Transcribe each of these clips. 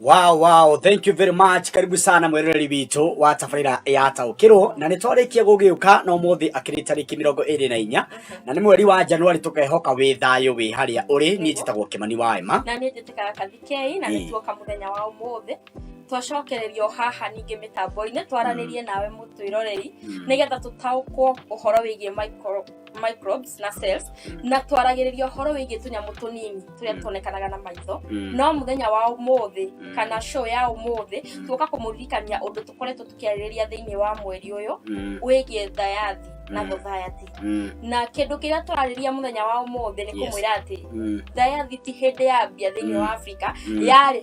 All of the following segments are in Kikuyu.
Wow, wow, thank you very much. Karibu sana mweroreri witũ wa tabarĩra ya taũkĩrwo na nĩ twarĩkia gũgĩũka na ũmũthĩ akĩrĩ tarĩki mĩrongo ĩrĩ na inya na nĩ mweri wa Januari tũkehoka wĩ thayũ wĩ harĩa ũrĩ niĩ njĩtagwo Kĩmani wa Emma na niĩ njĩtĩkaga Kathikei na nĩ tuoka mũthenya wa ũmũthĩ twacokereria o haha ningĩ mĩtambo-inĩ twaranĩrie mm. nawe mũtwĩroreri mm. nĩgetha tũtaũkwo ũhoro wĩgiĩ micro microbes na cells na twaragĩrĩria ũhoro wĩgiĩ tũnyamũ tũnini tũrĩa Mm. tuonekanaga na maitho Mm. no mũthenya wa ũmũthĩ Mm. kana show ya ũmũthĩ tuoka kũmũririkania ũndũ tũkoretwo tũkĩarĩrĩria thĩinĩ wa mweri ũyũ Mm. wĩgiĩ thayathi na Mm. society Mm. na kĩndũ kĩrĩa tũrarĩria mũthenya wa ũmũthĩ nĩ Yes. kũmwĩra atĩ Mm. thayathi ti hĩndĩ yambia thĩinĩ Mm. wa africa Mm. yarĩ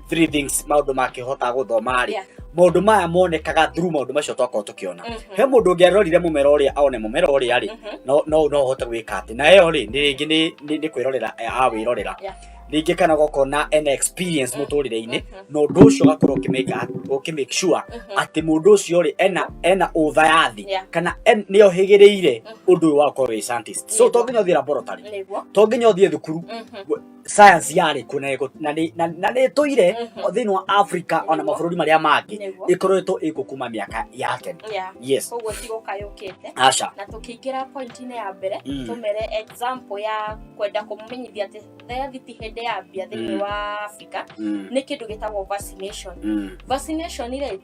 three things maundu make hota guthoma ri Yeah. maundu maya monekaga through maundu macio twakorwo tukiona Mhm. he mundu ungi arorire mumera uria aone mumera uria ri Mhm. no no no hote gwika ati na yo ri ni ringi ni ni ni kwirorera awirorera Yeah. ringi kana gokona an experience muturire-ini Mhm. na undu ucio gakorwo ukimeka ukimake sure Mhm. ati mundu ucio ri ena ena utha ya thi Yeah. kana en- ni ohigirire Mhm. undu uyu wakorwo wi scientist so Nĩguo. to nginya uthira borotari Nĩguo. to nginya uthie thukuru Mhm. science yarä kå na ĩgũ- na nĩ- na- na nä tå ire Mhm. thä inä wa africa ona Nĩguo. mabå rå ri marä a mangä Nĩguo. ä koretwo ä gå kuma mä aka ya tene Yeah. yes koguo tigåkayåkĩte aca na tũkĩingĩra pointi-inĩ ya mbere Mm. tũmere example ya kwenda kũmũmenyithia atĩ theathi ti hĩndĩ ya mbia thĩinĩ Mm. wa africa Mm, nĩ kĩndũ gĩtagwo vaccination mm. vaccination rĩ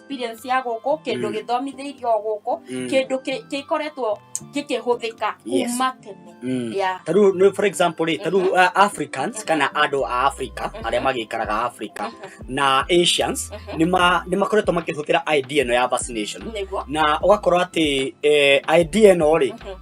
experience ya gũkũ kĩndũ Mm. gĩthomithĩirio o gũkũ Mm. kĩndũ kĩ- gĩkoretwo gĩkĩhũthĩka Yes. kuma tene Mm. Yeah. ta rĩu nĩ- for example rĩ ta rĩu uh, africans kana andũ a africa Mhm. arĩa magĩikaraga africa Mhm. na asians Mhm. nĩ ma- nĩ makoretwo makĩhũthĩra idea ĩno ya vaccination nĩguo na ũgakorwo atĩ eh, idea ĩno rĩ Mhm.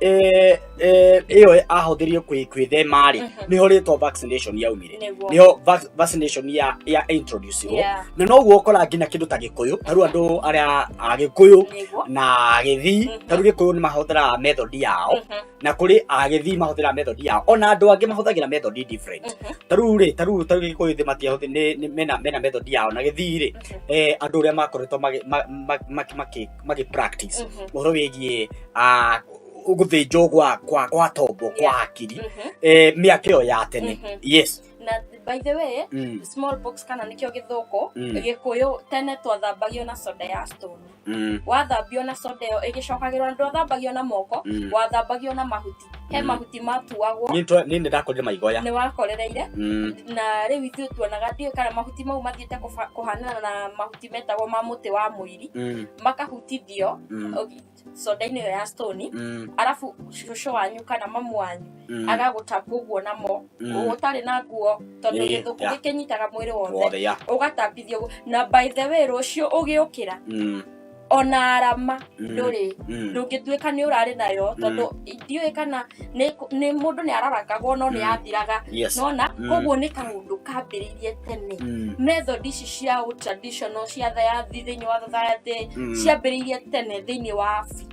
eh, eh, ĩyo ahũthĩrie kwĩ- kwĩthema rĩ Mhm. nĩho rĩtwa vaccination yaumire Nĩguo. nĩho vac- vaccination ya ya introduce ho Yeah. na noguo ũkora nginya kĩndũ ta gĩkũyũ ta rĩu andũ arĩa a gĩkũyũ Nĩguo. na agĩthii Mhm. ta rĩu gĩkũyũ nĩ mahũthĩraga method yao Mhm. na kũrĩ agĩthii mahũthĩraga method yao ona andũ angĩ mahũthagĩra method different Mhm. ta rĩu rĩ ta rĩu ta rĩu gĩkũyũ thĩ matiahũthĩ nĩ- nĩ- mena mena method yao na gĩthii rĩ Mhm. eh, andũ ũrĩa makoretwo magĩ- ma- ma- maki- maki- magĩ practice Mhm. ũhoro wĩgiĩ ah, gũthĩnjwo gwa kwa kwa tombo kwa Yeah. hakiri Mhm. eh, mĩaka ĩyo ya tene Mhm. yes na by the way mm. small box kana nĩkĩo gĩthũkũ Mm. gĩkũyũ tene twathambagio na soda ya stone Mm. wathambio na soda ĩyo ĩgĩcokagĩrwo na ndwathambagio na moko Mm. wathambagio na mahuti he Mm. mahuti matuagwo Nĩ twa- nĩ ndakorire maigoya nĩ wakorereire Mm. na rĩu ithuĩ tuonaga ndiũĩ kana mahuti mau mathiĩte kũba- kũhanana na mahuti mahuti metagwo ma mũtĩ wa mũiri Mm, makahutithio mm, okay, soda-inĩ ĩyo ya stone mm, arabu cũcũ wanyu kana mamu wanyu mm. agagũtambia ũguo namo Mm. ũtarĩ na nguo tondũ Ĩĩ, gĩthũkũ yeah. gĩkĩnyitaga mwĩrĩ wothe Wothe, yeah. ũgatambithio ũguo. na by the way rũciũ ũgĩũkĩra Mm, ona arama ndũrĩ Mm. ndũngĩtuĩka nĩ ũrarĩ nayo Mm. tondũ ndiũĩ kana nĩ nĩ- mũndũ nĩ ararakagwo no Mm. nĩ athiraga Yes. nona Mm. koguo nĩ kaũndũ kambĩrĩirie tene Mm. method ici cia ũ- traditional cia thayathi thĩinĩ wa society Mm. ciambĩrĩirie tene thĩinĩ wa Afri-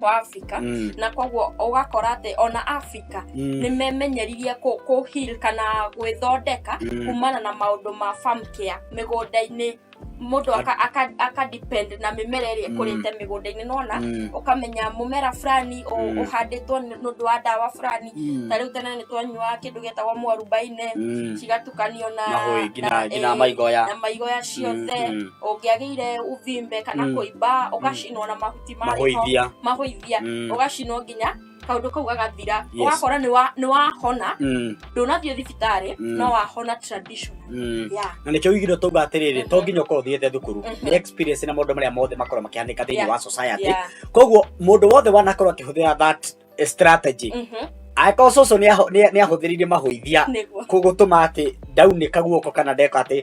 wa africa Mm. na koguo ũgakora atĩ ona africa Mm. nĩ memenyeririe kũ- kũ heal kana gwĩthondeka Mm. kumana na maũndũ ma farm care mĩgũnda-inĩ mũndũ aka, aka, aka depend na mĩmera ĩrĩa Mm. ĩkũrĩte mĩgũnda-inĩ nona Mm. ũkamenya mũmera fulani ũ- Mm. ũhandĩtwo nĩ ũndũ wa ndawa fulani Mm. ta rĩu tene nĩ twanyuaga kĩndũ gĩtagwo mwarubaine Mm. cigatukanio na mahũi nginya nginya eh, maigoya na maigoya ciothe Mm, mm. ũngĩagĩire ũvimbe kana Mm. kũimba ũgacinwo na mahuti marĩho mahoithia mahũithia Mm. ũgacinwo nginya kaundu kau gagathira Yes. ugakora ni wa ni wahona Mm, ndunathie thibitarĩ Mm. no wahona tradition mm. yeah na nĩkĩo igiro tauga atĩrĩrĩ to nginya ũkorwo ũthiĩte thukuru Mhm. nĩ experience na maũndũ marĩa mothe makorwo makĩhanĩka thĩinĩ Yeah. wa society yeah koguo mũndũ wothe wanakorwo akĩhũthĩra that strategy mhm angĩkorwo cũcũ nĩ aho- nĩ- nĩ ahũthĩrire mahũithia nĩguo kũgũtũma atĩ ndaunĩka guoko kana ndeka atĩ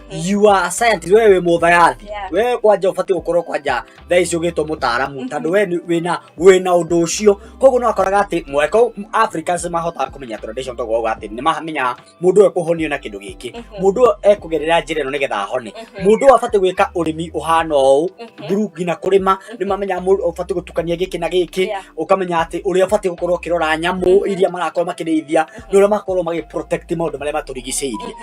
you are a scientist wewe wĩ mũthayathi Yeah. wewe kwanja ũbatiĩ gũkorwo kwanja thaa ici ũgĩtwo mũtaaramu tondũ we nĩ- wĩna wĩna ũndũ ũcio koguo nĩ wakoraga atĩ mweko africans mahotaga kũmenya tradition toguo ũguo atĩ nĩ mamenyaga mũndũ ũyũ ekũhonio na kĩndũ gĩkĩ Mhm. mũndũ ũyũ ekũgerera njĩra ĩno nĩgetha ahone Mhm. mũndũ ũyũ abatiĩ gwĩka ũrĩmi ũhana ũũ Mhm. through nginya kũrĩma nĩ mamenyaga mũndũ ũbatiĩ gũtukania gĩkĩ na gĩkĩ Yeah. ũkamenya atĩ ũrĩa ũbatiĩ gũkorwo ũkĩrora nyamũ iria marakorwo makĩrĩithia nĩ ũrĩa makorwo magĩ protect maũndũ marĩa matũrigicĩirie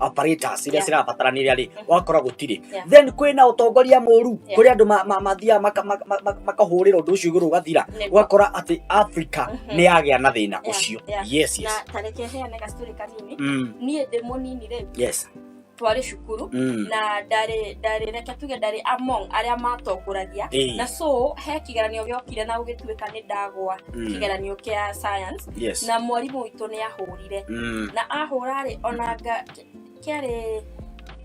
apparatus iria Yeah. cirabatarania rĩ Mhm. wakora gũtirĩ Yeah. then kwĩna ũtongoria mũru Yeah. kũrĩa andũ ma- ma- mathiaga maka- maka- maka- makahũrĩra ũndũ ũcio igũrũ ũgathira Nĩguo. ũgakora atĩ africa Mhm. nĩ yagĩa na thĩna Yeah, ũcio yeah. yes na yes tareke heane gacitũrĩ kanini Mm, niĩ ndĩ mũnini rĩ yes twarĩ cukuru Mm, na ndarĩ ndarĩ reke tuge ndarĩ among arĩa matongoragia Eh. na so he kĩgeranio gĩokire na gũgĩtuĩka nĩ ndagwa mm, kĩgeranio kĩa science yes na mwarimũ witũ nĩ ahũrire ndahũrire Mm. na ahũra rĩ ona nga- kĩarĩ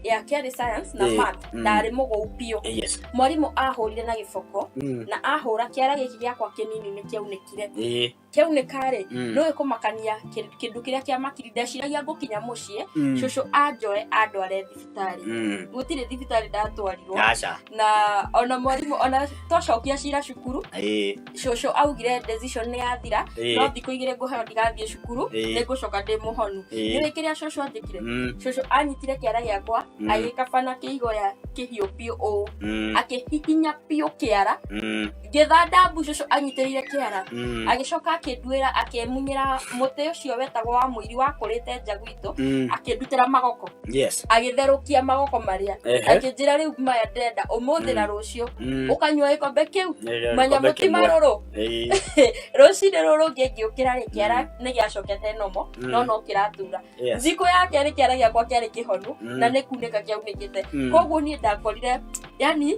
ya kĩarĩ science na Eh, math mm. ndarĩ mũgũu biũ Eh, yes. mwarimũ ahũrire na gĩboko Mm. na ahũra kĩara gĩkĩ gĩakwa kĩnini nĩ kĩaunĩkire Eh, kĩaunĩka rĩ mm. nĩũĩ kũmakania kĩ- kĩndũ kĩrĩa kĩamakiri ndeciragia ngũkinya mũciĩ Mm. cũcũ anjoe andware thibitarĩ thibitarĩ Mm. gũtirĩ thibitarĩ ndatwarirwo aca na ona mwarimũ ona twacokia cira cukuru ĩĩ cũcũ augire decision nĩ yathira no ĩĩ thikũ igĩrĩ ngũheo ndigathiĩ cukuru Ĩĩ. nĩ ngũcoka ndĩ mũhonu Ĩĩ. nĩwĩ kĩrĩa cũcũ andĩkire Mm, cũcũ anyitire kĩara gĩakwa Mm. agĩkabana kĩigoya kĩhiũ biũ ũũ mm, akĩhihinya biũ kĩara mm. ngĩtha ndambu cũcũ anyitĩrĩire kĩara Mm. agĩcoka akĩnduĩra akĩmunyĩra mũtĩ ũcio wetagwo wa mũiri wakũrĩte nja gwitũ Mm. akĩndutĩra magoko Yes. agĩtherũkia magoko marĩa Ehe. akĩnjĩra rĩu maya ndenda ũmũthĩ na rũciũ Mm. ũkanyua gĩkombe kĩu Eh, manya gĩkombe mũti kĩmwe. marũrũ Eh, rũcinĩ rũrũ ngĩ ngĩũkĩra rĩ kĩara nĩ gĩacokete nomo Mm. no no kĩratura yes. thikũ ya kerĩ kĩara gĩakwa kĩarĩ kĩhonu Mm. na nĩ kunĩka kĩaunĩkĩte Mm. koguo niĩ ndakorire yani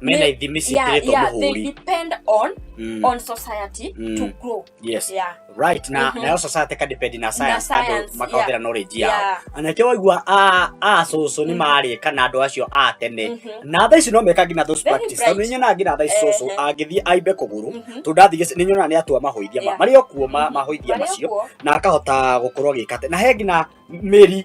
mena Ni- ithimi yeah, ciĩkĩrĩtwo yeah, they mũhũri depend on Mm. on society Mm. to grow yes yeah right na Mhm. nayo society ka depend na science science, andå makahũthĩra knowledge yao yeah anake waigua a a cũcũ nĩ Mhm. marĩka na andå acio a tene Mhm. na tha ici no meka nginya those Very practice tondå bright. nĩnyonaga nginya tha ici cũcũ Ehe. angĩthiĩ aimbe kũgũrũ Mhm. tondå ndathiĩ nä nyonaga nä atua mahoithia ma- Yeah. marĩ o kuo ma- Mhm. mahoithia Marĩ o macio kuo. na akahota gå korwo agä kate na he nginya mä ri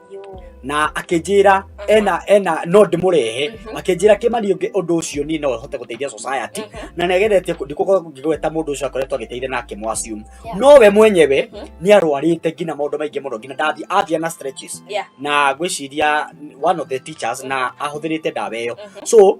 Yo. na akĩnjĩra ena ena no ndĩmũrehe Mhm. akĩnjĩra kĩmani ũngĩ ũndũ ũcio niĩ no hote gũteithia society Mhm. na nĩageretie ndikũkorwo ngĩgweta mũndũ ũcio akoretwo agĩteithia na akĩmwasum Yeah. no we mwenyewe Mhm. nĩ arwarĩte nginya maũndũ maingĩ mũno nginya ndathi athia na stretches Yeah. na gwĩciria one of the teachers na ahũthĩrĩte ndawa ĩyo Mhm. so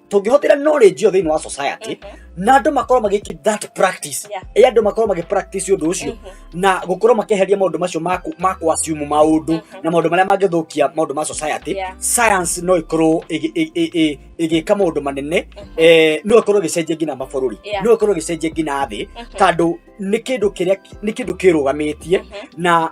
tũngĩhũthĩra knowledge ĩyo thĩinĩ wa society na andũ makorwo magĩki that practice Yeah. ĩ andũ makorwo magĩ practice ũndũ ũcio na gũkorwo makĩeheria maũndũ macio ma ku- ma kuasiumu maũndũ na maũndũ marĩa mangĩthũkia maũndũ ma society Yeah. science no ĩkorwo ĩgĩ- ĩ- ĩ- ĩ- ĩgĩka maũndũ manene eh, no ĩkorwo ĩgĩcenjia nginya mabũrũri Yeah. no ĩkorwo ĩgĩcenjia nginya thĩ tondũ nĩ kĩndũ kĩrĩa nĩ kĩndũ kĩrũgamĩtie na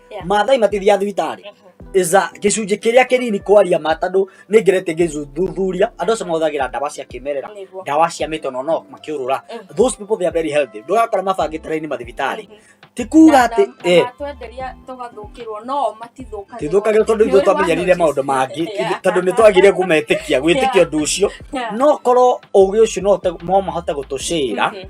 Yeah. mathai matithiaga thibitarĩ iza gĩcunjĩ kĩrĩa kĩnini kwaria ma tondũ nĩ ngerete ngĩthuthuria andũ acio mahũthagĩra ndawa cia kĩmerera Nĩguo. ndawa cia mĩtono no makĩũrũra Mhm. those people they are very healthy ndũrakora mabangĩte raini mathibitarĩ Mhm. ti kuga Na- atĩ na- eh, na twenderia tũgathũkĩrwo no matithũkagĩrwo tithũkagĩrwo tondũ ithuĩ twamenyerire maũndũ mangĩ Yeah. tondũ nĩ twagire kũmetĩkia gwĩtĩkia ũndũ ũcio Yeah. no korwo ũgĩ ũcio no ũhote- no mahote gũtũcĩra Mhm.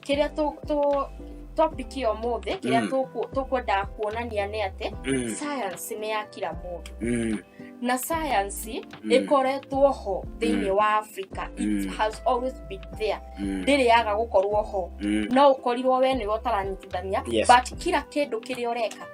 kĩrĩa tũ- tũ- topic ya ũmũthĩ kĩrĩa Mm. tũkũ- tũkwendaga kuonania nĩ atĩ Mm, science nĩ ya kira mũndũ mm, na science mm, ĩkoretwo ho thĩinĩ Mm. wa africa it Mm. has always been there mm, ndĩrĩaga gũkorwo ho mm. no ũkorirwo we nĩwe ũtaranyitithania Yes. but kira kĩndũ kĩrĩa ũreka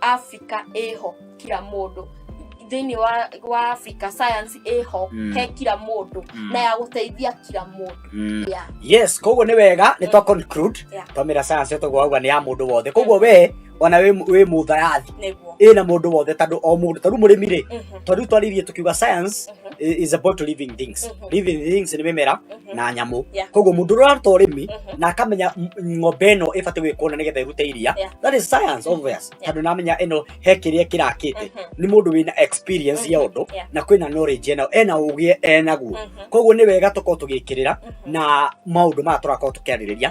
africa ĩho kira mũndũ thĩinĩ wa, wa africa science ĩho Mm. mm. he kira mũndũ Mm. mm. na ya gũteithia kira mũndũ Mm. yeah. yes koguo nä wega nä twa conclude Yeah. twamä ra science tå gwauga nä ya må ndå wothe koguo we ona wä må tharathi nĩguo ä na må ndå wothe tandå o må ndå tarä må rä mi rä Mhm. tondå twaririe tå kiuga science i- is about living things Mhm. living things nĩ mĩmera Mhm. na nyamũ Yeah. koguo mũndũ ũraruta ũrĩmi Mhm. na akamenya m- ng'ombe ĩno ĩbatiĩ gwĩkwo na nĩgetha ĩrute iria Yeah. that is science obvious Yeah. tondũ namenya ĩno he kĩrĩa kĩrakĩte Mhm. nĩ mũndũ wĩna experience ya ũndũ Yeah. na kwĩna knowledge ena ena ũgĩ enaguo Mhm. koguo nĩ wega tũkorwo tũgĩkĩrĩra Mhm. na maũndũ maya tũrakorwo tũkĩarĩrĩria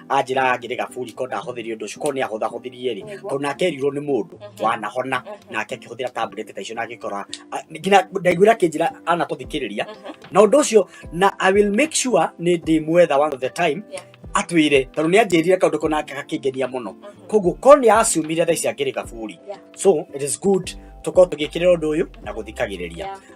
anjĩraga ngĩrĩ gaburi ko ndahũthĩri ũndũ ũcio ko nĩ ahũthahũthirie rĩ tondũ nake erirwo nĩ mũndũ Mhm. wanahona Mhm. nake akĩhũthĩra tablet ta icio na agĩkora a- nginya ndaiguĩra akĩnjĩra anatũthikĩrĩria Mhm. na ũndũ ũcio na i will make sure nĩ ndĩmwetha one of the time Yeah. atwĩre tondũ nĩ anjĩrire kaũndũ ko nake gakĩngenia mũno Mhm. koguo ko nĩ acumire thaa ici angĩrĩ gaburi Yeah. so it is good tũkorwo tũgĩkĩrĩra ũndũ ũyũ na gũthikagĩrĩria Yeah.